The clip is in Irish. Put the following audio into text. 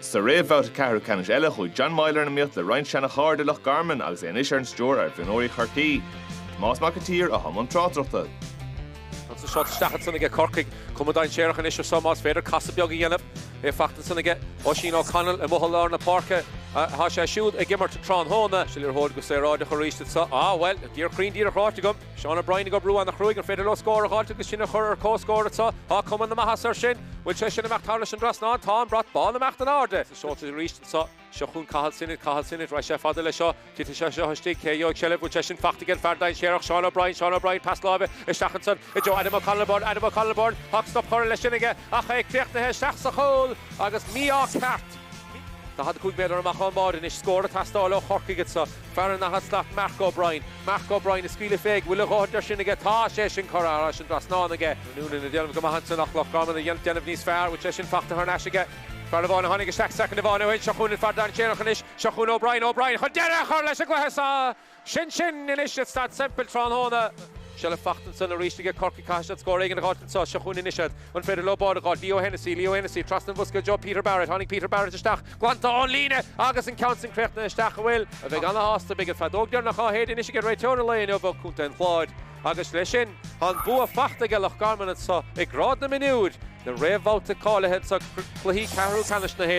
Sa réamhbhabhta ceathrú ceannais eile, chuaigh John Meyler in iomaíocht le roinnt seana-chairde i Loch Garman agus é anois ar an stiúir ar mhionúirí Chorcaí. Tomás Mac an tSaoir atá i mbun tráchtaireachta. Tá sé sáite isteach ansan aige Corcaigh. Cuma dainséarach anois air seo más féidir casadh beag a dhéanamh. É fachta ansan aige Oisín O'Connell i mbuthal lár na páirce. Tá sé siúd ag imirt tráthnóna. Sin liathróid go saoráideach arís anseo. Á, bhuel, dír cruinn díreach ráite agam. Seán O'Brien ag oibriú an-chruaidh, an féidir leo scór a dh'fháilt agus sinn a chur ar comhscór anseo? Tá cuma na maitheasa air sin. Bhfuil sé sin imeacht thar leis an dtrasnán? Tá an brat bán imeacht in airde. Seoltar arís anseo. Seo chughainn Cathal Sinnott, Cathal Sinnott, raghaidh sé fada leis seo, titfidh sé seo istigh, cé a gheobhaidh seilbh? Bhfuil sé sin fachta ag an fear dainséarach, Seán O'Brien, Seán O'Brien, pas láimhe isteach ansan i dtreo Adam O'Connell Byrne, Adam O'Connell Byrne, tá stop curtha leis sin aige ach é críochnaithe isteach sa chúl agus mí-ádh ceart. Daichead a cúig méadar amach ón mbád anois, scór ag teastáil ó Chorcaigh anseo. Fear an daichead slat Mark O'Brien. Mark O'Brien ag scaoileadh féig, bhfuil a dhóthaint air sin aige. Tá sé sin curtha thairis an dtrasnán aige. Noonan ag déanamh go maith ansin ach Loch Garman ag déanamh níos fearr, bhfuil sé sin fachta thar n-ais aige. Fear amháin a tháinig isteach soicind amháin ó shin. Seo chugainn an fear dainséarach anois. Seo chugainn O'Brien. O'Brien chun deireadh a chur leis an gcluiche sa. Sin sin anois ag Staid Semple tráthnóna. Seilbh fachta ansan arís aige Corcaigh. Caithfidh siad scór éigin a dh'fháilt anseo. Seo chugainn anois iad. An féidir leo bád a dh'fháil? Leo Hennessy, Leo Hennessy, Trasna an bhosca i dtreo Peter Barrett, tháinig Peter Barrett isteach, glanta ón líne! Agus an ceann sin críochnaithe isteach, a bhfuil? A bheidh ana-shásta, beidh an feadóg deireanach á shéideadh anois aige réiteoir an lae inniu ó Chontae an Chláir. Agus leis sin, tá an bua fachta aige Loch Garman anseo i ngrád na mionúr, na réamhbhabhta cáilithe anseo cluichí ceathrú ceannais na.